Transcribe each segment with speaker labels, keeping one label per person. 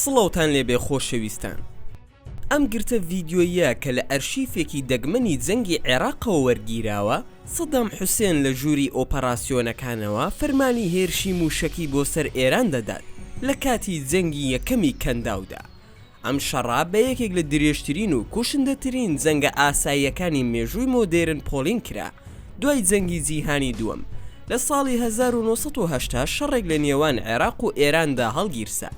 Speaker 1: سڵاوتان لێبێ خۆشەویستان ئەم گرتە ڤیدیۆییە کە لە ئەرشیفێکی دەگمەنی جەنگی عێراقەوە وەرگیراوە سەدام حوسێن لە ژووری ئۆپەراسیۆنەکانەوە فەرمانی هێرشی مووشەکی بۆ سەر ئێران دەدات لە کاتی جەنگی یەکەمی کەنداودا ئەم شەڕە بە یەکێک لە درێژترین و کوشندەترین جەنگە ئاساییەکانی مێژووی مۆدێرن پۆلین کرا دوای جەنگی جیهانی دووەم. لە ساڵی هەزار و نۆ سەد و هەشتا شەڕێک لە نێوان عێراق و ئێراندا هەڵگیرسا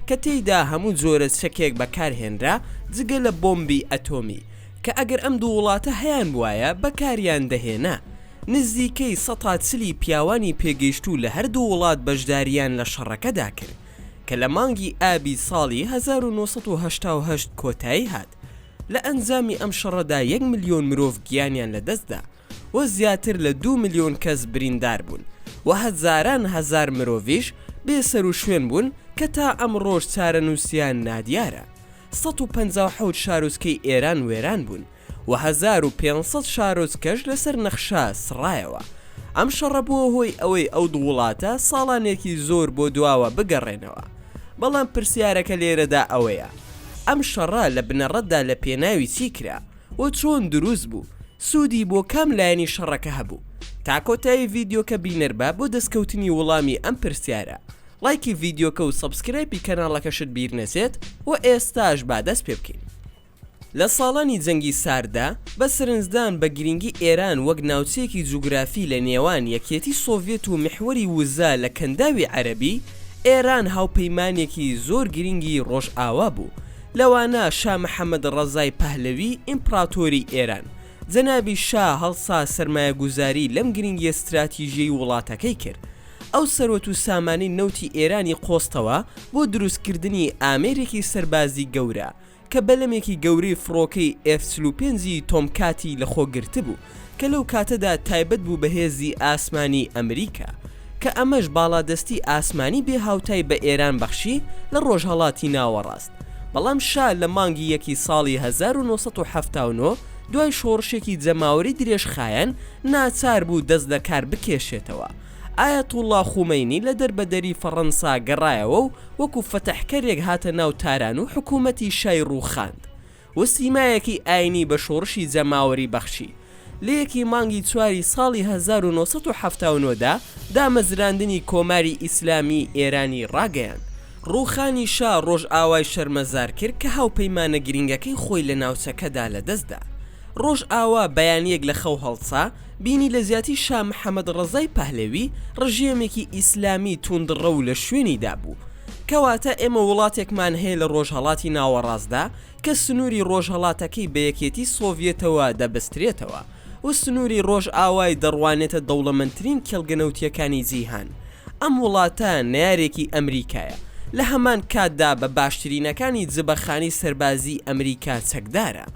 Speaker 1: کە تێیدا هەموو جۆرە چەکێک بەکارهێنرا جگە لە بۆمبی ئەتۆمی کە ئەگەر ئەم دوو وڵاتە هەیانبوایە بەکاریان دەهێنا. نزیکەی سەتا چلی پیاوانی پێگەیشتوو لە هەردوو وڵات بەشدارییان لە شەڕەکەدا کرد. کە لە مانگی ئابی ساڵی هەزار و نۆ سەد و هەشتا و هەشت کۆتایی هات، لە ئەنجامی ئەم شەڕەدا یەک ملیۆن مرۆڤ گیانیان لەدەستدا و زیاتر لە دوو ملیۆن کەس بریندار بوون و هەزاران هەزار مرۆڤیش بێسەروشوێن بوون کە تا ئەمڕۆش چارەنووسیان نادیارە. سەد و پەنجا و حەوت شاروچکەی ئێران وێران بوون. و هەزار و پێنج سەد شارۆچکەش لەسەر نەخشە سڕایەوە. ئەم شەڕە بووە هۆی ئەوەی ئەو دوو وڵاتە ساڵانێکی زۆر بۆ دواوە بگەڕێنەوە. بەڵام پرسیارەکە لێرەدا ئەوەیە، ئەم شەڕە لە بنەڕەتدا لە پێناوی چی کرا و چۆن دروست بوو؟ سوودی بۆ کام لایەنی شەڕەکە هەبوو؟ تا کۆتایی ڤیدیۆکە بینەربە بۆ دەستکەوتنی وڵامی ئەم پرسیارە. ڵایکی ڤیدیۆکە و سەبسکرایپی کەناڵەکەشت بیر نەچێت و ئێستاش با دەست پێ بکەین. لە ساڵانی جەنگی سارددا، بە سەرنجدان بە گرینگی ئێران وەک ناوچەیەکی جوگرافی لە نێوان یەکیەتی سۆڤیەت و میحوەری وزە لە کەنداوی عەرەبی، ئێران هاوپەیمانێکی زۆر گرینگی ڕۆژئاوا بوو، لەوانە شا محەمەد ڕەزای پەهلەوی ئیمپڕاتۆری ئێران، جەنابی شا هەڵسا سەرمایەگوزاری لەم گرینگیە ستراتیژیەی وڵاتەکەی کرد، ئەو سەروەت و سامانی نەوتی ئێرانی قۆستەوە بۆ دروستکردنی ئامێرێکی سەربازی گەورە، کە بەلەمێکی گەورەی فڕۆکەی ئێف چل و پێنج ی تۆمکاتی لەخۆ گرتبوو کە لەو کاتەدا تایبەت بوو بە هێزی ئاسمانی ئەمریکا کە ئەمەش باڵادەستی ئاسمانی بێ هاوتای بە ئێران بەخشی لە ڕۆژهەڵاتی ناوەڕاست بەڵام شا لە مانگی یەکی ساڵی هەزار و نۆ سەد و حەفتا و نۆ دوای شۆڕشێکی جەماوەری درێژخایەن ناچار بوو دەست لەکار بکێشێتەوە ئایەتوڵڵا خومەینی لە دەربەدەری فەڕەنسا گەڕایەوە و وەکو فەتحکەرێک هاتە ناو تاران و حکوومەتی شای ڕووخاند و سیمایەکی ئایینی بە شۆڕشی جەماوەری بەخشی. لە یەکی مانگی چواری ساڵی هەزار و نۆ سەد و حەفتا و نۆ دا دامەزراندنی کۆماری ئیسلامیی ئێرانی ڕاگەیاند. ڕووخانی شا ڕۆژئاوای شەرمەزار کرد کە هاوپەیمانە گرینگەکەی خۆی لە ناوچەکەدا لەدەست دا. ڕۆژئاوا بەیانییەک لە خەو هەڵسا، بینی لە جیاتی شا محەمەد ڕەزای پەهلەوی ڕژێمێکی ئیسلامی توندڕەو لە شوێنی دابوو. کەواتە ئێمە وڵاتێکمان هەیە لە ڕۆژهەڵاتی ناوەڕاستدا کە سنووری ڕۆژهەڵاتەکەی بە یەکێتی سۆڤیەتەوە دەبەسترێتەوە و سنووری ڕۆژئاوای دەڕوانێتە دەوڵەمەندترین کێڵگە نەوتییەکانی جیهان. ئەم وڵاتە نەیارێکی ئەمریکایە. لە هەمان کاتدا بە باشترینەکانی جبەخانی سەربازیی ئەمریکا چەکدارە.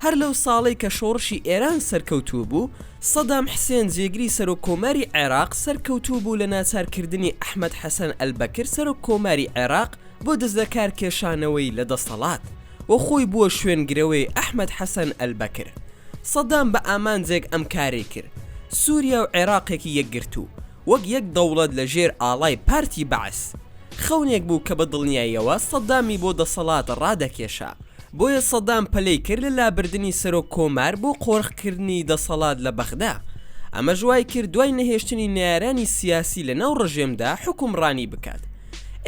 Speaker 1: هەر لەو ساڵەی کە شۆڕشی ئێران سەرکەوتوو بوو، سەدام حسێن جێگری سەرۆک کۆماری عێراق سەرکەوتوو بوو لە ناچار کردنی ئەحمەد حەسەن ئەلبەکر سەرۆک کۆماری عێراق بۆ دەستلەکار کێشانەوەی لە دەسەڵات و خۆی بووە شوێن گرەوەی ئەحمەد حەسەن ئەلبەکر سەدام بە ئامانجێک ئەم کارەی کرد سوریا و عێراقێکی یەکگرتوو وەک یەک دەوڵەت لە ژێر ئاڵای پارتی بەعس. خەونێک بوو کە بە دڵنیاییەوە سەدامی بۆ دەسەڵات ڕادەکێشا. بۆیە سەدام پەلەی کرد لە لابردنی سەرۆک کۆمار بۆ قۆرخ کردنی دەسەڵات لە بەغدا. ئەمەش وای کرد دوای نەهێشتنی نەیارانی سیاسی لە ناو ڕژێمدا حوکمڕانی بکات.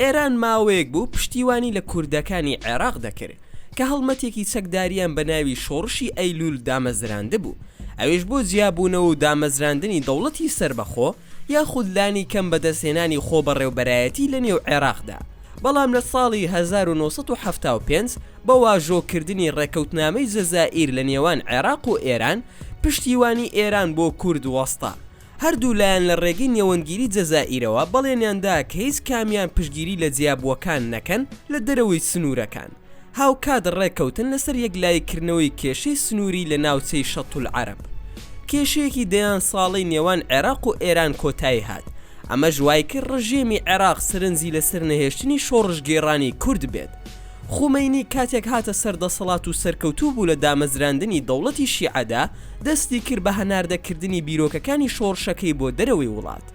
Speaker 1: ئێران ماوەیەک بوو پشتیوانی لە کوردەکانی عێراق دەکرد. کە هەڵمەتێکی چەکداریان بە ناوی شۆڕشی ئەیلوول دامەزراندبوو، ئەویش بۆ جیابوونەوە و دامەزراندنی دەوڵەتی سەربەخۆ یاخود لانی کەم بەدەستهێنانی خۆبەڕێوبەرایەتی لە نێو عێراقدا، بەڵام لە ساڵی هەزار و نۆ سەد و حەفتا و پێنج بە واژۆکردنی ڕێکەوتنامەی جەزائیر لە نێوان عێراق و ئێران، پشتیوانی ئێران بۆ کورد وەستا هەردوو لایەن لە ڕێگەی نێوەندگیری جەزائیرەوە بەڵێنیان دا کە هیچ کامیان پشتگیری لە جیابووەکان نەکەن لە دەرەوەی سنوورەکان، هاوکات ڕێککەوتن لەسەر یەکلاییکردنەوەی کێشەی سنووری لە ناوچەی شەتولعەرەب. کێشەیەکی دەیان ساڵەی نێوان عێراق و ئێران کۆتایی هات، ئەمەش وایکرد ڕژێمی عێراق سەرنجی لەسەر نەهێشتنی شۆڕشگێڕانی کورد بێت، خومەینی کاتێک هاتە سەر دەسەڵات و سەرکەوتوو بوو لە دامەزراندنی دەوڵەتی شیعەدا، دەستی کرد بە هەناردە کردنی بیرۆکەکانی شۆڕشەکەی بۆ دەرەوەی وڵات.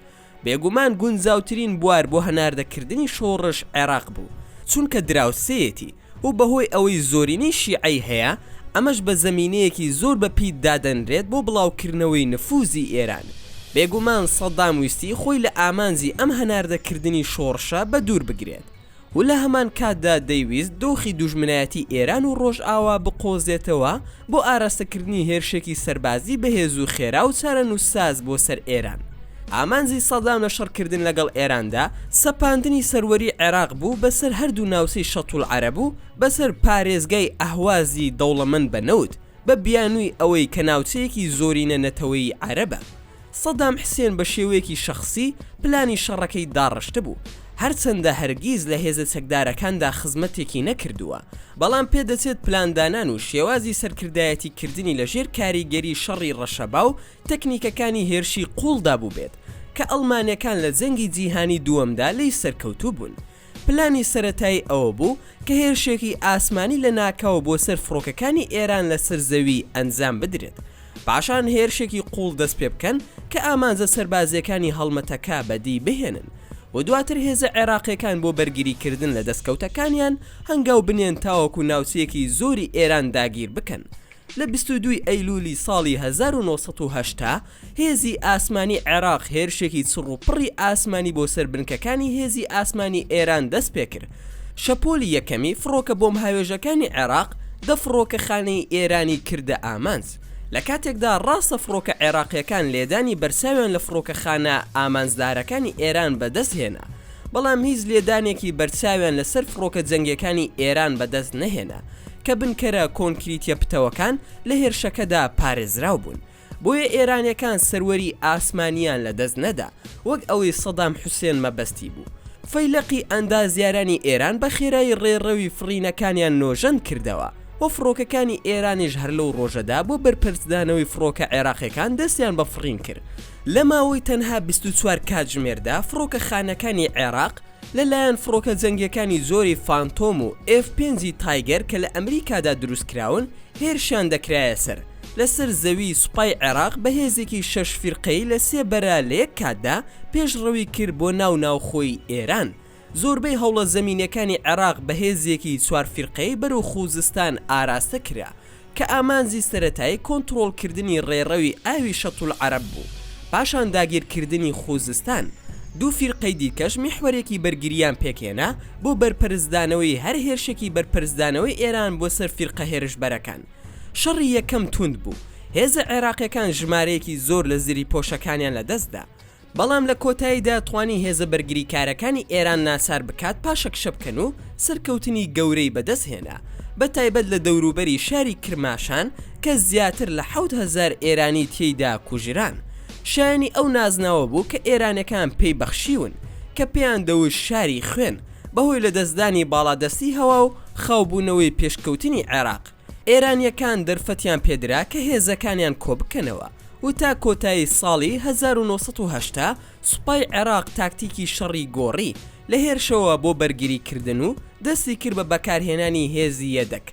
Speaker 1: بێگومان گونجاوترین بوار بۆ هەناردە کردنی شۆڕش عێراق بوو، چونکە دراوسێیەتی و بە هۆی ئەوەی زۆرینەی شیعەی هەیە، ئەمەش بە زەمینەیەکی زۆر بە پیت دادەنرێت بۆ بڵاو کردنەوەی نفوزی ئێران. بێگومان سەدام ویستی خۆی لە ئامانجی ئەم هەناردە کردنی شۆڕشە بە دوور بگرێت. و لە هەمان کاتدا دەیویست دۆخی دوژمنایەتی ئێران و ڕۆژئاوا بقۆزێتەوە بۆ ئاراستەکردنی هێرشێکی سەربازی بەهێز و خێرا و چارەنووسساز بۆ سەر ئێران. ئامانجی سەدام لە شەڕکردن لەگەڵ ئێراندا سەپاندنی سەروەری عێراق بوو بەسەر هەردوو ناوچەی شەتولعەرەب و بەسەر پارێزگای ئەهوازی دەوڵەمەند بە نەوت، بە بیانووی ئەوەی کە ناوچەیەکی زۆرینە نەتەوەیی عەرەبە. سەدام حسێن بە شێوەیەکی شەخسی پلانی شەڕەکەی داڕشتبوو، هەرچەندە هەرگیز لە هێزە چەکدارەکاندا خزمەتێکی نەکردووە، بەڵام پێدەچێت پلاندانان و شێوازی سەرکردایەتی کردنی لە ژێر کاریگەری شەڕی ڕەشەبا و تەکنیکەکانی هێرشی قووڵدا بووبێت کە ئەڵمانەکان لە جەنگی جیهانی دووەمدا لێی سەرکەوتوو بوون. پلانی سەرەتایی ئەوە بوو کە هێرشێکی ئاسمانی لە ناکاو بۆ سەر فڕۆکەکانی ئێران لە سەر زەوی ئەنجام بدرێت، پاشان هێرشێکی قووڵ دەست پێ بکەن کە ئامانجە سەربازییەکانی هەڵمەتەکە بەدی بهێنن و دواتر هێزە عێراقییەکان بۆ بەرگری کردن لە دەستکەوتەکانیان هەنگاو بنێن تاوەکو ناوچەیەکی زۆری ئێران داگیر بکەن لە بیست و دوو ی ئەیلوولی ساڵی هەزار و نۆ سەد و هەشتا، هێزی ئاسمانی عێراق هێرشێکی چڕوپڕی ئاسمانی بۆ سەر بنکەکانی هێزی ئاسمانی ئێران دەست پێ کرد. شەپۆلی یەکەمی فڕۆکە بۆمبهاوێژەکانی عێراق دە فڕۆکەخانەی ئێرانی کردە ئامانج، لە کاتێکدا ڕاستە فڕۆکە عێراقییەکان لێدانی بەرچاویان لە فڕۆکەخانە ئامانجدارەکانی ئێران بەدەست هێنا، بەڵام هیچ لێدانێکی بەرچاویان لەسەر فڕۆکە جەنگیەکانی ئێران بەدەست نەهێنا کە بنکەرە کۆنکریتیە پتەوەکان لە هێرشەکەدا پارێزراو بوون بۆیە ئێرانیەکان سەروەری ئاسمانیان لەدەست نەدا وەک ئەوەی سەدام حوسێن مەبەستی بوو. فەیلەقی ئەندازیارانی ئێران بە خێرایی ڕێڕەوی فڕینەکانیان نۆژەن کردەوە و فڕۆکەکانی ئێرانیش هەر لەو ڕۆژەدا بۆ بەرپەرچدانەوەی فڕۆکە عێراقیەکان دەستیان بە فڕین کرد لە ماوەی تەنها بیست و چوار کاتژمێردا فڕۆکەخانەکانی عێراق لە لایەن فڕۆکە جەنگیەکانی جۆری فانتۆم و ئێف پێنجی تایگەر کە لە ئەمریکادا دروست کراون هێرشیان دەکرایە سەر لەسەر زەوی سوپای عێراق بە هێزێکی شەش فیرقەی لە سێ بەرە لە یەک کاتدا پێشڕەوی کرد بۆ ناو ناوخۆی ئێران زۆربەی هەوڵە زەمینیەکانی عێراق بە هێزێکی چوار فیرقەیی بەرەو خووزستان ئاراستە کرا کە ئامانجی سەرەتایی کۆنتڕۆڵ کردنی ڕێڕەوی ئاوی شەتولعەرەب بوو پاشان داگیر کردنی خووزستان دوو فیرقەی دیکەش میحوەرێکی بەرگرییان پێکهێنا بۆ بەرپەرچدانەوەی هەر هێرشێکی بەرپەرچدانەوەی ئێران بۆ سەر فیرقە هێرشبەرەکان شەڕی یەکەم تووند بوو هێزە عێراقیەکان ژمارەیەکی زۆر لە زریپۆشەکانیان لە دەست دا بەڵام لە کۆتاییدا توانی هێزە بەرگریکارەکانی ئێران ناچار بکات پاشەکشە بکەن و سەرکەوتنی گەورەی بەدەست هێنا بە تایبەت لە دەوروبەری شاری کرماشان کە زیاتر لە حەوت هەزار ئێرانی تێیدا کوژران شایەنی ئەو نازناوە بوو کە ئێرانەکان پێی بەخشیون کە پێیان دەوت شاری خوێن بەهۆی لەدەستدانی باڵادەستی هەوا و خاوبوونەوەی پێشکەوتنی عێراق ئێرانییەکان دەرفەتیان پێدرا کە هێزەکانیان کۆبکەنەوە و تا کۆتایی ساڵی هەزار و نۆ سەد و هەشتا سوپای عێراق تاکتیکی شەڕی گۆڕی لە هێرشەوە بۆ بەرگریکردن و دەستیکرد بە بەکارهێنانی هێزی یەدەگ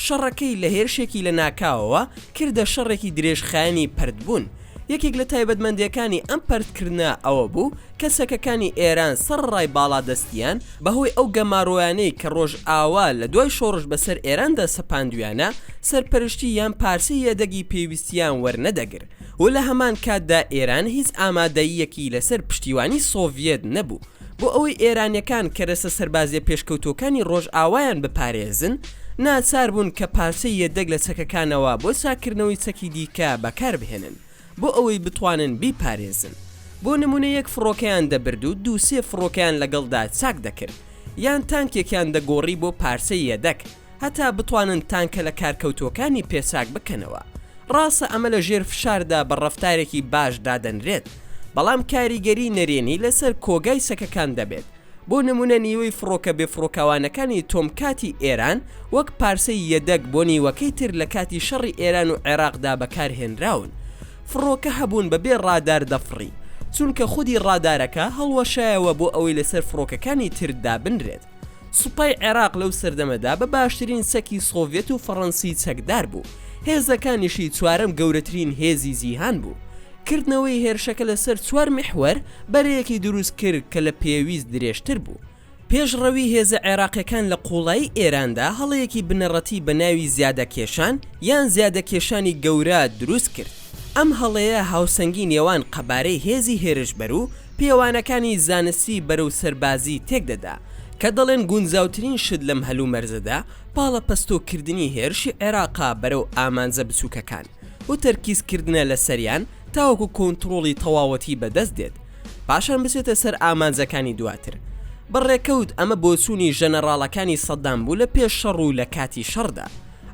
Speaker 1: شەڕەکەی لە هێرشێکی لەناکاوەوە کردە شەڕێکی درێژخایەنی پەرتبوون یەکێک لە تایبەتمەندییەکانی ئەم پەرتکردنە ئەوەبوو کە چەکەکانی ئێران سەر ڕای باڵادەستیان بە هۆی ئەو گەمارۆیانەی کە ڕۆژئاوا لە دوای شۆڕش بە سەر ئێراندا سەپاندویانە، سەرپەرشتی یان پارچەی یەدەگی پێویستیان وەرنەدەگر و لە هەمان کاتدا ئێران هیچ ئامادەییەکی لە سەر پشتیوانی سۆڤیەت نەبوو بۆ ئەوەی ئێرانیەکان کەرەسە سەربازیە پێشکەوتوەکانی ڕۆژئاوایان بپارێزن ناچار بوون کە پارچەی یەدەگ لە چەکەکانەوە بۆ چاککردنەوەی چەکی دیکە بەکار بهێنن. بۆ ئەوەی بتوانن بیپارێزن. بۆ نموونە یەک فڕۆکەیان دەبرد و دوو سێ فڕۆکەیان لەگەڵدا چاک دەکرد، یان تانکێکیان دەگۆڕی بۆ پارچەی یەدەک، هەتا بتوانن تانکە لەکارکەوتووەکانی پێ چاک بکەنەوە. ڕاستە ئەمە لە ژێر فشاردا بە ڕەفتارێکی باش دادەنرێت، بەڵام کاریگەری نەرێنی لەسەر کۆگای چەکەکان دەبێت. بۆ نمونە نیوەی فڕۆکە بێفڕۆکەوانەکانی تۆمکاتی ئێران وەک پارسەی یەدەگ بۆ نیوەکەی تر لە کاتی شەڕی ئێران و عێراقدا بەکارهێنراون فڕۆکە هەبوون بەبێ ڕادار دەفڕی چونکە خودی ڕادارەکە هەڵوەشایەوە بۆ ئەوەی لەسەر فڕۆکەکانی تر دابنرێت سوپای عێراق لەو سەردەمەدا بە باشترین چەکی سۆڤێت و فەڕەنسی چەکدار بوو هێزەکانیشی چوارەم گەورەترین هێزی جیهان بوو کردنەوەی هێرشەکە لەسەر چوار میحوەر بەرەیەکی دروست کرد کە لە پێویست درێژتر بوو. پێشڕەوی هێزە عێراقیەکان لە قوڵایی ئێراندا هەڵەیەکی بنەڕەتی بە ناوی زیادەکێشان یان زیادەکێشانی گەورە دروست کرد. ئەم هەڵەیە هاوسەنگی نێوان قەبارەی هێزی هێرشبەر و پێوانەکانی زانستی بەرەو سەربازی تێک دەدا کە دەڵێن گونجاوترین شت لەم هەلومەرجەدا پاڵەپەستۆ کردنی هێرشی عێراقە بەرەو ئامانجە بچوکەکان. و تەرکیز کردنە لەسەریان تاوەکو کۆنتڕۆڵی تەواوەتی بەدەست دێت پاشان بچێتە سەر ئامانجەکانی دواتر بە ڕێکەوت ئەمە بۆچوونی ژەنەڕاڵەکانی سەدام بوو لە پێش شەڕ و لەکاتی شەڕدا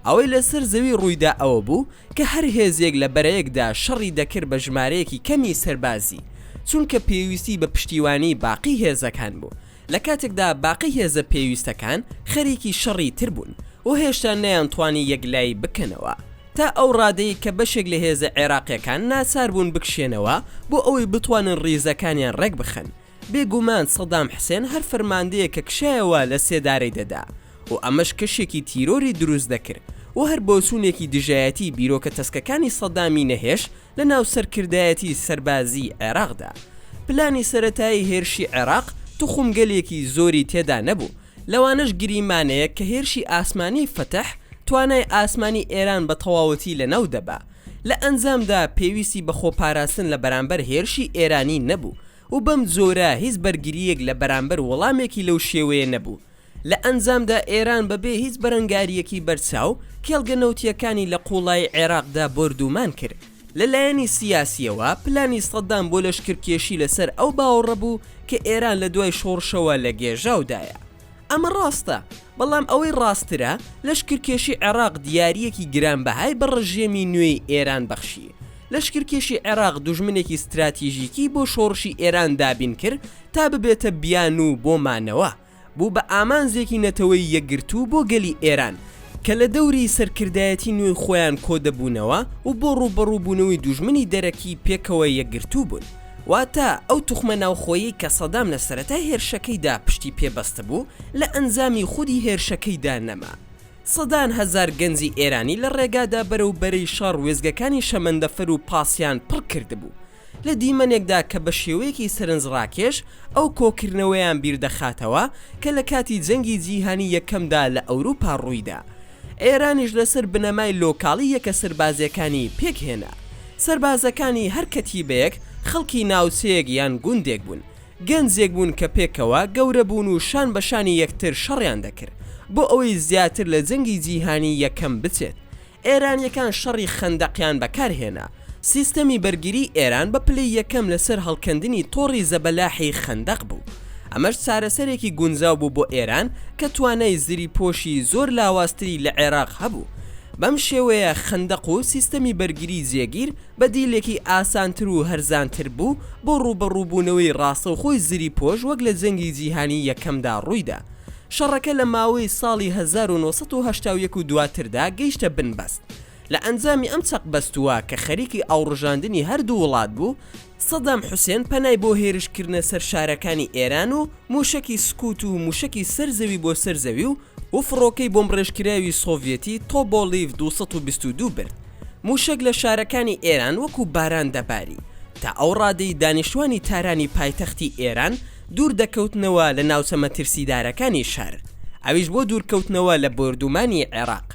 Speaker 1: ئەوەی لەسەر زەوی ڕوویدا ئەوە بوو کە هەر هێزێک لە بەرەیەکدا شەڕی دەکرد بە ژمارەیەکی کەمی سەربازی چونکە پێویستی بە پشتیوانی باقی هێزەکان بوو لە کاتێکدا باقی هێزە پێویستەکان خەریکی شەڕی تر بوون و هێشتا نەیانتوانی یەکلایی بکەنەوە، تا ئەو ڕادەی کە بەشێک لە هێزە عێراقییەکان ناچار بوون بکشێنەوە بۆ ئەوەی بتوانن ڕیزەکانیان ڕێکبخەن، بێگومان سەدام حسێن هەر فەرماندەیەک کە کشایەوە لە سێدارەی دەدا و ئەمەش کەشێکی تیرۆری دروست دەکرد و هەر بۆچوونێکی دژایەتی بیرۆکە تەسکەکانی سەدامی نەهێشت لە ناو سەرکردایەتی سەربازیی عێراقدا، پلانی سەرەتایی هێرشی عێراق توخمگەلێکی زۆری تێدا نەبوو، لەوانەش گریمانەیەک کە هێرشی ئاسمانیی فەتح توانای ئاسمانی ئێران بە تەواوەتی لە ناو دەبا. لە ئەنجامدا پێویستی بە خۆپاراستن لە بەرامبەر هێرشی ئێرانی نەبوو و بەم جۆرە هیچ بەرگرییەک لە بەرامبەر وەڵامێکی لەو شێوەیە نەبوو لە ئەنجامدا ئێران بە بێ هیچ بەرەنگارییەکی بەرچاو کێڵگە نەوتییەکانی لە قووڵایی عێراقدا بۆردوومان کرد. لە لایەنی سیاسییەوە پلانی سەدام بۆ لەشکرکێشی لە سەر ئەو باوەڕە بوو کە ئێران لە دوای شۆڕشەوە لە گێژاودایە. ئەمە ڕاستە، بەڵام ئەوەی ڕاستترە لەشکرکێشی عێراق دیارییەکی گرانبەهای بە ڕژێمی نوێی ئێران بەخشی. لەشکرکێشی عێراق دوژمنێکی ستراتیژیکی بۆ شۆڕشی ئێران دابین کرد تا ببێتە بیانوو بۆ مانەوە. بوو بە ئامانجێکی نەتەوەی یەکگرتوو بۆ گەلی ئێران کە لە دەوری سەرکردایەتی نوێی خۆیان کۆدەبوونەوە و بۆ ڕووبەڕووبوونەوەی دوژمنی دەرەکی پێکەوە یەکگرتوو بوون. واتە ئەو توخمە ناوخۆیەی کە سەدام لە سەرەتای هێرشەکەیدا پشتی پێ بەستبوو، لە ئەنجامی خودی هێرشەکەیدا نەما. سەدان هەزار گەنجی ئێرانی لە ڕێگادا بەرەو بەرەی شەڕ وێستگەکانی شەمەندەفەر و پاسیان پڕ کردبوو. لە دیمەنێکدا کە بە شێوەیەکی سەرنجڕاکێش ئەو کۆکردنەوەیان بیر دەخاتەوە کە لە کاتی جەنگی جیهانی یەکەمدا لە ئەوروپا ڕوویدا. ئێرانیش لەسەر بنەمای لۆکاڵی یەکە سەربازییەکانی پێک هێنا. سەربازەکانی هەر کەتیبەیەک خەڵکی ناوچەیەک یان گوندێک بوون. گەنجێک بوون کە پێکەوە گەورە بوون و شان بە شانی یەکتر شەڕیان دەکرد بۆ ئەوەی زیاتر لە جەنگی جیهانی یەکەم بچێت. ئێرانیەکان شەڕی خەندەقیان بەکار هێنا. سیستەمی بەرگری ئێران بە پلەی یەکەم لەسەر هەڵکەندنی تۆڕی زەبەلاحی خەندەق بوو. ئەمەش چارەسەرێکی گونجاو بوو بۆ ئێران کە توانای زریپۆشی زۆر لاوازتری لە عێراق هەبوو. بەم شێوەیە خەندەق و سیستەمی بەرگری جێگیر بەدیلێکی ئاسانتر و هەرزانتر بوو بۆ ڕووبەڕووبوونەوەی ڕاستەوخۆی زریپۆش وەک لە جەنگی جیهانی یەکەمدا ڕوویدا. شەڕەکە لە ماوەی ساڵی هەزار و نۆ سەد و هەشتا و یەک و دواتردا گەیشتە بنبەست. لە ئەنجامی ئەم چەقبەستووە کە خەریکی ئاوڕژاندنی هەردوو وڵات بوو، سەدام حوسێن پەنای بۆ هێرشکردنە سەر شارەکانی ئێران و مووشەکی سکوت و مووشەکی سەر زەوی بۆ سەر زەوی و و فڕۆکەی بۆمبڕێژکراوی سۆڤیەتی تۆبۆلیڤ دوو سەد و بیست و دوو برد. مووشەک لە شارەکانی ئێران وەکوو باران دەباری. تا ئەو ڕادەی دانیشتوانی تارانی پایتەختی ئێران دوور دەکەوتنەوە لە ناوچە مەترسیدارەکانی شار، ئەویش بۆ دوورکەوتنەوە لە بۆردوومانی عێراق.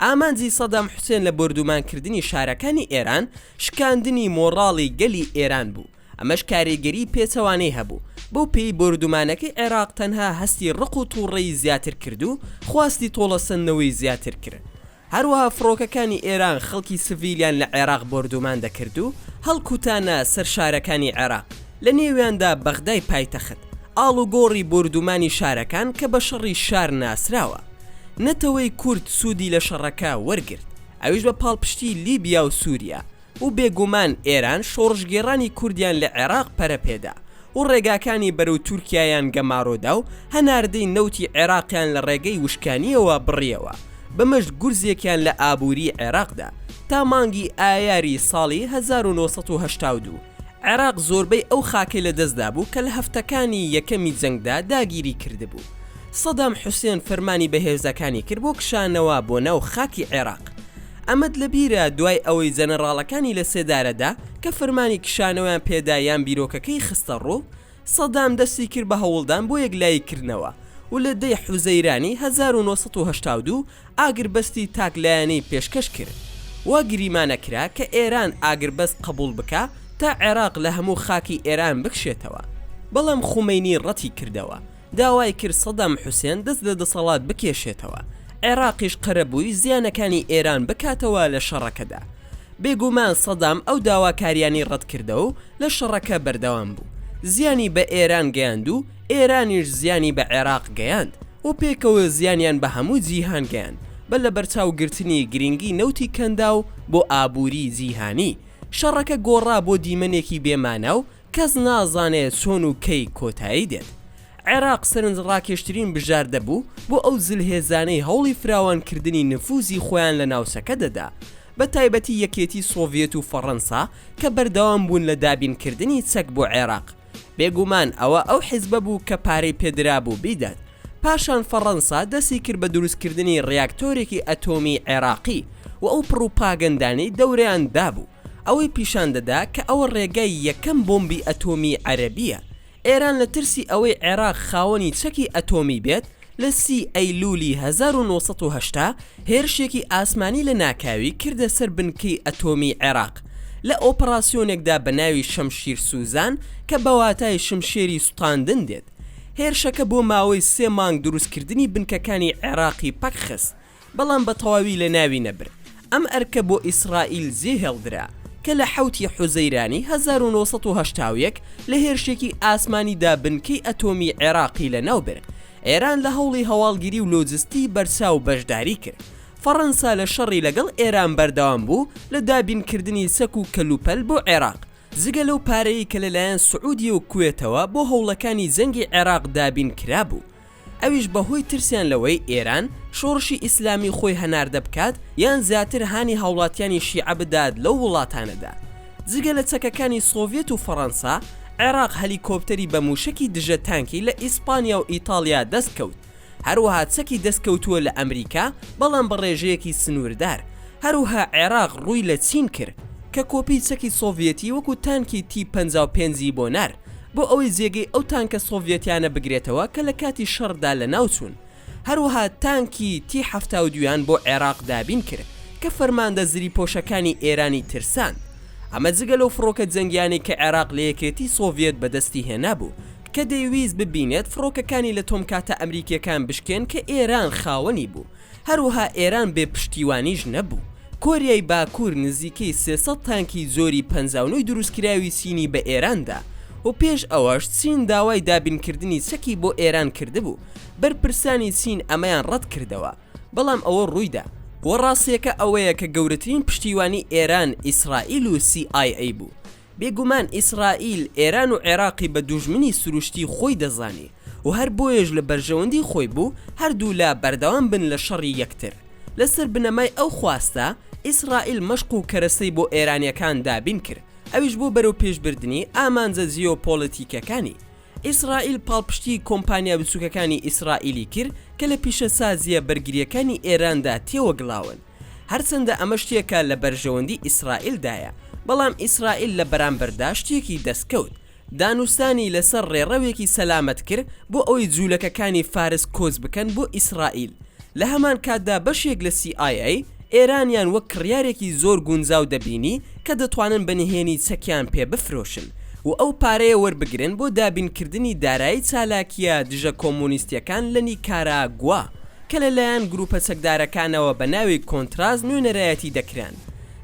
Speaker 1: ئامانجی سەدام حوسێن لە بۆردوومانکردنی شارەکانی ئێران، شکاندنی مۆڕاڵی گەلی ئێران بوو، ئەمەش کاریگەریی پێچەوانەی هەبوو، بەو پێیەی بۆردوومانەکەی عێراق تەنها هەستی ڕق و توڕەیی زیاتر کرد و خواستی تۆڵەسەندنەوەی زیاتر کرد. هەروەها فڕۆکەکانی ئێران خەڵکی سڤیلیان لە عێراق بۆردومان دەکرد و هەڵکوتانە سەر شارەکانی عێراق، لە نێویاندا بەغدای پایتەخت، ئاڵوگۆڕی بۆردومانی شارەکان کە بە شەڕی شار ناسراوە. نەتەوەی کورد سوودی لە شەڕەکە وەرگرت، ئەویش بە پاڵپشتی لیبیا و سووریا، و بێگومان ئێران شۆڕشگێڕانی کوردیان لە عێراق پەرە پێدا و ڕێگاکانی بەرەو تورکیایان گەمارۆدا و هەناردەی نەوتی عێراقیان لە ڕێگەی وشکانییەوە بڕیەوە، بەمەش گورزێکیان لە ئابووریی عێراقدا. تا مانگی ئایاری ساڵی هەزار و نۆ سەد و هەشتا و دوو، عێراق زۆربەی ئەو خاکەی لە دەست دابوو کە لە هەفتەکانی یەکەمی جەنگدا داگیری کردبوو. سەدام حوسێن فەرمانی بە هێزەکانی کرد بۆ کشانەوە بۆ ناو خاکی عێراق. ئەمەت لە بیرە دوای ئەوەی جەنەڕاڵەکانی لە سێدارەدا کە فەرمانی کشانەوەیان پێدا یان بیرۆکەکەی خستە ڕوو، سەدام دەستی کرد بە هەوڵدان بۆ یەکلایی کردنەوە و لە دەی حوزەیرانی هەزار و نۆ سەد و هەشتا و دوو ئاگربەستی تاک لایەنەی پێشکەش کرد و گریمانە کرا کە ئێران ئاگربەست قبوڵ بکا تا عێراق لە هەموو خاکی ئێران بکشێتەوە. بەڵام خومەینی ڕەتی کردەوە. داوای کرد سەدام حوسێن دەست لە دەسەڵات بکێشێتەوە، عێراقیش قەرەبووی زیانەکانی ئێران بکاتەوە لە شەڕەکەدا. بێگومان سەدام ئەو داواکارییانەی ڕەتکردەوە و لە شەڕەکە بەردەوام بوو. زیانی بە ئێران گەیاند و ئێرانیش زیانی بە عێراق گەیاند و پێکەوە زیانیان بە هەموو جیهان گەیاند بە لەبەرچاوگرتنی گرنگی نەوتی کەنداو بۆ ئابووریی جیهانی. شەڕەکە گۆڕا بۆ دیمەنێکی بێ مانا و کەس نازانێ چۆن و کەی کۆتایی دێت. عێراق سەرنجڕاکێشترین بژاردە بوو بۆ ئەو زلهێزانەی هەوڵی فراوانکردنی نفوزی خۆیان لە ناوچەکە دەدا، بە تایبەتی یەکێتی سۆڤیەت و فەڕەنسا کە بەردەوام بوون لە دابینکردنی چەک بۆ عێراق. بێگومان ئەوە ئەو حیزبە بوو کە پارەی پێ درابوو بیدات. پاشان فەڕەنسا دەستی کرد بە دروستکردنی ڕیاکتۆرێکی ئەتۆمیی عێراقی و ئەو پڕوپاگەندانەی دەورەیان دابوو ئەوەی پیشان دەدا کە ئەوە ڕێگای یەکەم بۆمبی ئەتۆمیی عەرەبییە. ئێران لە ترسی ئەوەی عێراق خاوەنی چەکی ئەتۆمی بێت، لە سی ئەیلوولی هەزار و نۆ سەد و هەشتا هێرشێکی ئاسمانی لە ناکاوی کردە سەر بنکەی ئەتۆمیی عێراق لە ئۆپەڕاسیۆنێکدا بە ناوی شەمشیر سوزان کە بە واتای شمشێری سوتاندن دێت. هێرشەکە بۆ ماوەی سێ مانگ دروستکردنی بنکەکانی عێراقی پەکخست، بەڵام بە تەواوی لەناوی نەبرد، ئەم ئەرکە بۆ ئیسرائیل جێهێڵدرا، کە لە حەوت ی حوزەیرانی هەزار و نۆ سەد و هەشتا و یەک لە هێرشێکی ئاسمانیدا بنکەی ئەتۆمی عێراقی لەناوبرد، ئێران لە هەوڵی هەواڵگیری و لۆجستی بەرچاو بەشداری کرد، فەڕەنسا لە شەڕی لەگەڵ ئێران بەردەوام بوو لە دابینکردنی چەک و کەلوپەل بۆ عێراق، جگە لەو پارەی کە لەلایەن سعودیە و کوێتەوە بۆ هەوڵەکانی جەنگی عێراق دابین کرابوو ئەویش بەهۆی ترسیان لەوەی ئێران شۆڕشی ئیسلامی خۆی هەناردە بکات یان زیاتر هانی هاوڵاتیانی شیعە بدات لەو وڵاتانەدا جگە لە چەکەکانی سۆڤێت و فەڕەنسا عێراق هەلیکۆپتەری بە موشەکی دژە تانکی لە ئیسپانیا و ئیتاڵیا دەست کەوت. هەروەها چەکی دەست کەوتووە لە ئەمریکا بەڵام بە ڕێژەیەکی سنووردار، هەروها عێراق ڕووی لە چین کرد کە کۆپی چەکی سۆڤیەتی وەکو تانکی تی پەنجا و پێنج ی بۆ نارد بۆ ئەوەی جێگەی ئەو تانکە سۆڤیەتیانە بگرێتەوە کە لە کاتی شەڕدا لە ناو چوون هەروها تانکی تی حەفتا و دوو یان بۆ عێراق دابین کرد کە فەرماندە زریپۆشەکانی ئێرانی ترساند ئەمە جگە لەو فڕۆکە جەنگیانەی کە عێراق لە یەکێتی سۆڤیەت بەدەستی هێنابوو کە دەیویست ببینێت فڕۆکەکانی لە تۆمکاتە ئەمریکییەکان بشکێن کە ئێران خاوەنی بوو، هەروەها ئێران بێ پشتیوانیش نەبوو. کۆریای باکوور نزیکەی سێ سەد تانکی جۆری پەنجا و نۆی دروستکراوی چینی بە ئێران دا و پێش ئەوەش چین داوای دابینکردنی چەکی بۆ ئێران کردبوو، بەرپرسانی چین ئەمەیان ڕەت کردەوە، بەڵام ئەوە ڕووی دا. وە ڕاستییەکە ئەوەیە کە گەورەترین پشتیوانی ئێران ئیسرائیل و سی ئای ئەی بوو. بێگومان ئیسرائیل ئێران و عێراقی بە دوژمنی سروشتی خۆی دەزانی و هەر بۆیەش لە بەرژەوەندی خۆی بوو هەردوو لا بەردەوام بن لە شەڕی یەکتر. لەسەر بنەمای ئەو خواستە، ئیسرائیل مەشق و کەرەسەی بۆ ئێرانییەکان دابین کرد، ئەویش بۆ بەرەوپێشبردنی ئامانجە جیۆپۆلەتیکییەکانی. ئیسرائیل پاڵپشتیی کۆمپانیا بچووکەکانی ئیسرائیلی کرد کە لە پیشەسازییە بەرگرییەکانی ئێراندا تێوەگلاون. هەرچەندە ئەمە شتێکە لە بەرژەوەندی ئیسرائیل دایە، بەڵام ئیسرائیل لە بەرامبەردا شتێکی دەستکەوت، دانوستانی لەسەر ڕێڕەوێکی سەلامەت کر بۆ ئەوەی جوولەکەکانی فارس کۆچ بکەن بۆ ئیسرائیل، لە هەمان کاتدا بەشێک لە سی ئای ئەی ئێرانیان وەک کڕیارێکی زۆر گونجاو دەبینی کە دەتوانن بە نهێنی چەکیان پێ بفرۆشن و ئەو پارەیە وەربگرن بۆ دابینکردنی دارایی چالاکییە دژە کۆمۆنیستییەکان لە نیکاراگوا. کە لە لایەن گروپە چەکدارەکانەوە بە ناوی کۆنتراس نوێنەرایەتی دەکران،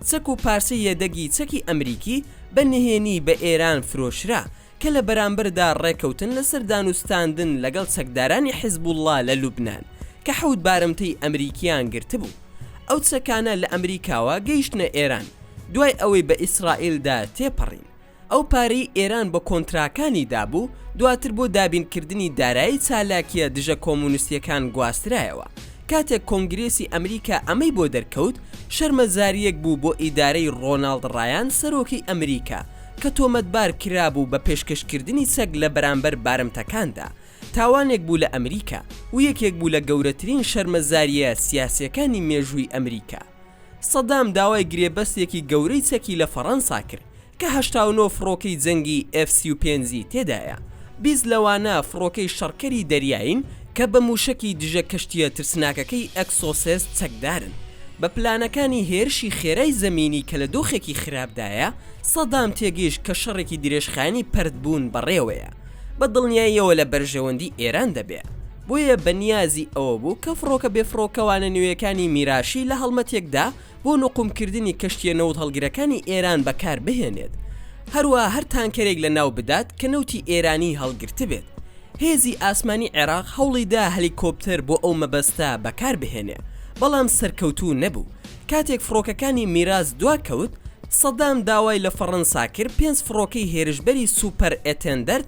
Speaker 1: چەک و پارچەی یەدەگی چەکی ئەمریکی بە نهێنی بە ئێران فرۆشرا، کە لە بەرامبەردا ڕێکەوتن لەسەر دانوستاندن لەگەڵ چەکدارانی حزبوڵڵا لە لوبنان، کە حەوت بارمتەی ئەمریکیان گرتبوو. ئەو چەکانە لە ئەمریکاوە گەیشتنە ئێران، دوای ئەوەی بە ئیسرائیلدا تێپەڕین. ئەو پارەی ئێران بە کۆنتراکانی دابوو، دواتر بۆ دابینکردنی دارایی چالاکییە دژە کۆمونستییەکان گواسترایەوە. کاتێک کۆنگرێسی ئەمریکا ئەمەی بۆ دەرکەوت، شەرمەزارییەک بوو بۆ ئیدارەی ڕۆناڵد ڕایان سەرۆکی ئەمریکا، کە تۆمەتبار کرابوو بە پێشکەشکردنی چەک لە بەرامبەر بارمتەکاندا. تاوانێک بوو لە ئەمریکا، و یەکێک بوو لە گەورەترین شەرمەزارییە سیاسییەکانی مێژووی ئەمریکا. سەدام داوای گرێبەستێکی گەورەی چەکی لە فەڕەنسا کرد کە هەشتا و نۆ فڕۆکەی جەنگی ئێف سی و پێنج ی تێدایە، بیست لەوانە فڕۆکەی شەڕکەری دەریایین کە بە مووشەکی دژە کەشتییە ترسناکەکەی ئەکسۆسێس چەکدارن. بە پلانەکانی هێرشی خێرای زەمینی کە لە دۆخێکی خراپدایە، سەدام تێگەیشت کە شەڕێکی درێژخایەنی پەرتبوون بەڕێوەیە، بە دڵنیاییەوە لە بەرژەوەندی ئێران دەبێ. بۆیە بە نیازی ئەوە بوو کە فڕۆکە بێفڕۆکەوانە نوێیەکانی میراشی لە هەڵمەتێکدا بۆ نوقومکردنی کەشتییە نەوتهەڵگرەکانی ئێران بەکار بهێنێت، هەروەها هەر تانکەرێک لە ناو بدات کە نەوتی ئێرانیی هەڵگرتبێت. هێزی ئاسمانی عێراق هەوڵی دا هەلیکۆپتەر بۆ ئەو مەبەستە بەکار بهێنێ، بەڵام سەرکەوتوو نەبوو. کاتێک فڕۆکەکانی میراس دوا کەوت، سەدام داوای لە فەڕەنسا کرد پێنج فڕۆکەی هێرشبەری سوپەر ئێتێندەرد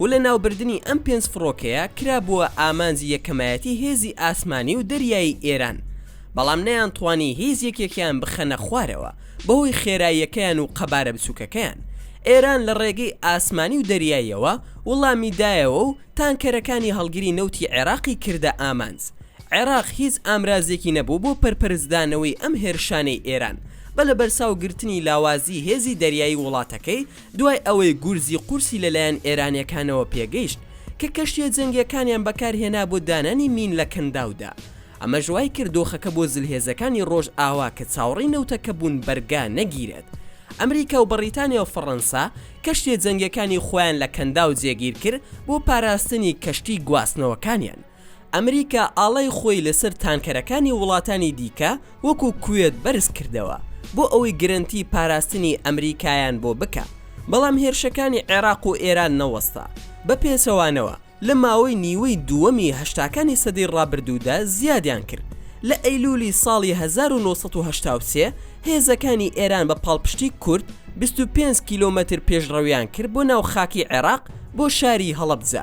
Speaker 1: و لە ناوبردنی ئەم پێنج فڕۆکەیە کرابووە ئامانجی یەکەمایەتی هێزی ئاسمانی و دەریایی ئێران بەڵام نەیانتوانی هیچ یەکێکیان بخەنە خوارەوە بەهۆی خێراییەکەیان و قەبارە بچووکەکەیان ئێران لە ڕێگەی ئاسمانی و دەریاییەوە وڵامی دایەوە و تانکەرەکانی هەڵگری نەوتی عێراقی کردە ئامانج عێراق هیچ ئامرازێکی نەبوو بۆ پەرپەرچدانەوەی ئەم هێرشانەی ئێران بە لەبەرچاو گرتنی لاوازی هێزی دەریایی وڵاتەکەی دوای ئەوەی گورزی قورسی لەلایەن ئێرانییەکانەوە پێگەیشت کە کەشتییە جەنگییەکانیان بەکارهێنا بۆ دانانی مین لە کەنداودا، ئەمەش وایکرد دۆخەکە بۆ زلهێزەکانی ڕۆژئاوا کە چاوەڕێی نەوتەکە بوون بەرگا نەگیرێت. ئەمریکا و بەڕیتانیا و فەڕەنسا کەشتییە جەنگییەکانی خۆیان لە کەنداو جێگیرکرد بۆ پاراستنی کەشتی گواستنەوەکانیان. ئەمریکا ئاڵای خۆی لەسەر تانکەرەکانی وڵاتانی دیکە وەکو کوێت بەرز کردەوە بۆ ئەوەی گرەنتی پاراستنی ئەمریکایان بۆ بکا بەڵام هێرشەکانی عێراق و ئێران نەوەستا بە پێچەوانەوە لە ماوەی نیوەی دووەمی هەشتاکانی سەدەی ڕابردوودا زیادیان کرد لە ئەیلولی ساڵی هەزار و نۆ سەد و هەشتا و سێ هێزەکانی ئێران بە پاڵپشتی کورد بیست و پێنج کیلۆمەتر پێشڕەویان کرد بۆ ناو خاکی عێراق بۆ شاری هەڵەبجە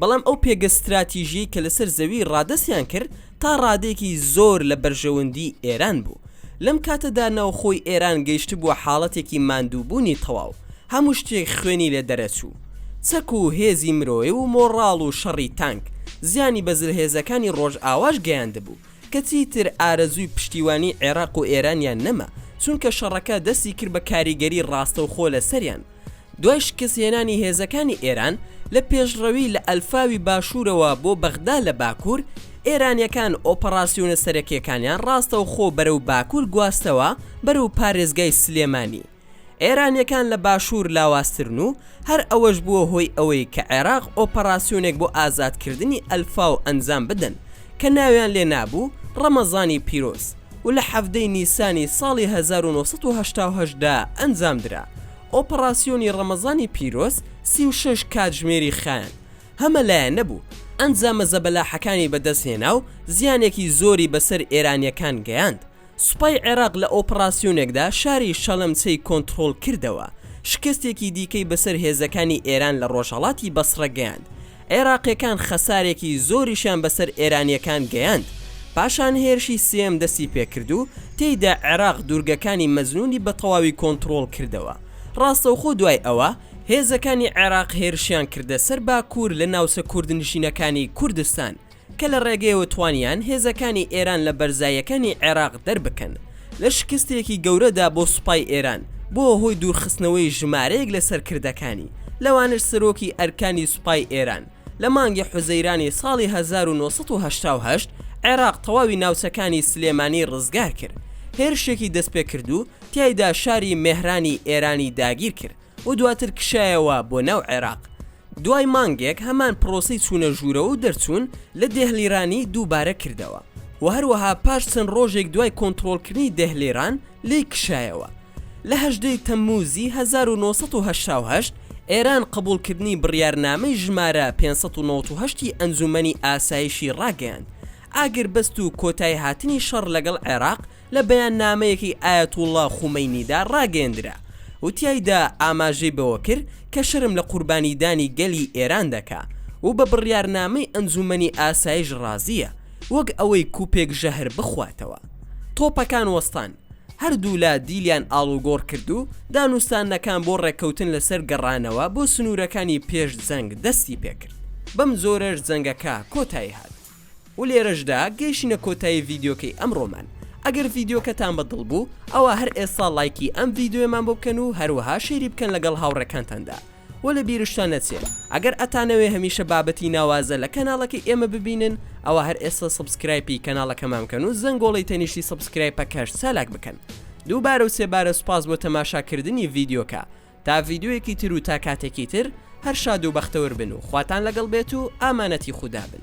Speaker 1: بەڵام ئەو پێگە ستراتیژیەی کە لەسەر زەوی ڕادەستیان کرد تا ڕادەیەکی زۆر لە بەرژەوەندی ئێران بوو. لەم کاتەدا ناوخۆی ئێران گەیشتبووە حاڵەتێکی ماندووبوونی تەواو، هەموو شتێک خوێنی لێ دەرەچوو. چەک و هێزی مرۆی و مۆڕاڵ و شەڕی تانک، زیانی بە زلهێزەکانی ڕۆژئاواش گەیاندبوو، کە چیتر ئارەزووی پشتیوانی عێراق و ئێرانیان نەما، چونکە شەڕەکە دەستی کرد بە کاریگەری ڕاستەوخۆ لەسەریان. دوای شکست هێنانی هێزەکانی ئێران لە پێشڕەوی لە ئەلفاوی باشوورەوە بۆ بەغدا لە باکوور، ئێرانیەکان ئۆپەڕاسیۆنە سەرەکیەکانیان ڕاستەوخۆ بەرەو باکوور گواستەوە بەرەو پارێزگای سلێمانی. ئێرانیەکان لە باشوور لاوازترن و هەر ئەوەش بووە هۆی ئەوەی کە عێراق ئۆپەڕاسیۆنێک بۆ ئازادکردنی ئەلفاو ئەنجام بدەن کە ناویان لێ نابوو ڕەمەزانی پیرۆز. و لە حەڤدەی نیسانی ساڵی هەزار و نۆ سەد و هەشتا و هەشت دا ئەنجام درا. ئۆپەڕاسیۆنی ڕەمەزانی پیرۆز سی و شەش کاتژمێری خایاند، هەمە لایەنە بوو، ئەنجامە زەبەلاحەکانی بەدەست هێنا و زیانێکی زۆری بەسەر ئێرانییەکان گەیاند. سوپای عێراق لە ئۆپەڕاسیۆنێکدا شاری شەلەمچەی کۆنتڕۆڵ کردەوە، شکستێکی دیکەی بەسەر هێزەکانی ئێران لە ڕۆژهەڵاتی بەسڕە گەیاند، عێراقیەکان خەسارێکی زۆریشیان بەسەر ئێرانیەکان گەیاند، پاشان هێرشی سێیەم دەستی پێکرد و تێیدا عێراق دوورگەکانی مەزنونی بەتەواوی کۆنتڕۆڵ کردەوە، ڕاستەوخۆ دوای ئەوە هێزەکانی عێراق هێرشیان کردە سەر باکور لە ناوچە کوردنشینەکانی کوردستان، کە لە ڕێگەیەوە توانیان هێزەکانی ئێران لە بەرزاییەکانی عێراق دەربکەن لە شکستێکی گەورەدا بۆ سوپای ئێران بووە هۆی دوورخستنەوەی ژمارەیەک لە سەرکردەکانی لەوانەش سەرۆکی ئەرکانی سوپای ئێران لە مانگی حوزەیرانی ساڵی هەزار و نۆ سەد و هەشتا و هەشت عێراق تەواوی ناوچەکانی سلێمانی ڕزگارکرد هێرشێکی دەستپێکردوو تیایدا شاری مێهرانی ئێرانی داگیرکرد و دواتر کشایەوە بۆ ناو عێراق. دوای مانگێک هەمان پرۆسەی چوونە ژوورەوە و دەرچوون لە دێهلیرانی دووبارە کردەوە و هەروەها پاش چەند ڕۆژێک دوای کۆنترۆڵکردنی دێهلیران لێی کشایەوە. لە هەژدە ی تەممووزی هەزار و نۆ سەد و هەشتا و هەشت ئێران قبووڵکردنی بڕیارنامەی ژمارە پێنج سەد و نەوەد و هەشت ی ئەنجوومەنی ئاسایشی ڕاگەیاند، ئاگربەست و کۆتاییهاتنی شەڕ لەگەڵ عێراق، لە بەیاننامەیەکی ئایەتوڵڵا خومەینیدا ڕاگەیەندرا و تیایدا ئاماژەی بەوە کرد کە شەرم لە قوربانیدانی گەلی ئێران دەکا و بە بڕیارنامەی ئەنجوومەنی ئاسایش ڕازییە وەک ئەوەی کوپێک ژەهر بخواتەوە. تۆپەکان وەستان، هەردوولا دیلیان ئاڵوگۆڕ کرد و دانوستانەکان بۆ ڕێککەوتن لەسەر گەڕانەوە بۆ سنوورەکانی پێش جەنگ دەستی پێکرد، بەمجۆرەش جەنگەکە کۆتایی هات. و لێرەشدا گەیشینە کۆتایی ڤیدیۆکەی ئەمڕۆمان ئەگەر ڤیدیۆکەتان بە دڵ بوو ئەوا هەر ئێستا ڵایکی ئەم ڤیدیۆیەمان بۆ بکەن و هەروەها شەیری بکەن لەگەڵ هاوڕێکانتاندا وە لە بیرشتان نەچێ ئەگەر ئەتانەوێ هەمیشە بابەتی ناوازە لە کەناڵەکەی ئێمە ببینن ئەوا هەر ئێستا سەبسکرایپی کەناڵەکەمان بکەن و زەنگۆڵەی تەنیشتی سەبسکرایپەکەش چالاک بکەن دووبارە و سێبارە سوپاس بۆ تەماشاکردنی ڤیدیۆکە تا ڤیدیۆیەکی تر و تا کاتێکی تر هەر شاد و بەختەوەر بن و خواتان لەگەڵ بێت و ئامانەتی خودا بن.